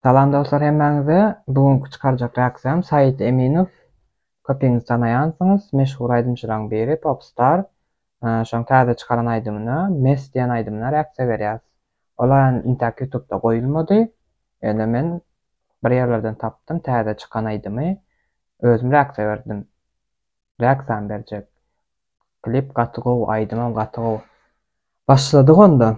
Salam dostlar hemmäňize. Bu günki çykarjak reaksiýam Said Eminow. Köpüňiz tanaýansyňyz, meşhur aýdymçylaryň biri, popstar. Şoň täze çykaran aýdymyna, Mest diýen aýdymyna reaksiýa berýäs. Ol aýan intäk ýutubda goýulmady. Ýöne men bir ýerlerden tapdym täze çykan aýdymy. Özüm reaksiýa berdim. Reaksiýam berjek. Klip gaty gowy, aýdymam gaty gowy. Başladyk onda.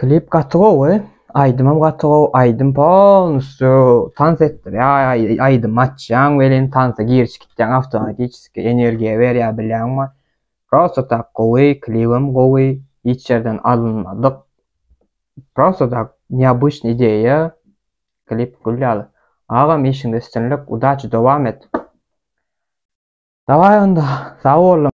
Klip gaty gowy, aýdymam gaty gowy, aýdym polnusýo tans etdirýär, aýdymy açýaň welin tansa girişip gitýäň awtomatiçeski, energiýa berýär bilýäňmi? Prosta tak gowy, klibem gowy, hiç ýerden alynmadyk. Prosta tak neobýçnyý ideýa, klip gül ýaly. Agam işiňde üstünlik, udaçi dowam et. Dawaý onda, sag bol.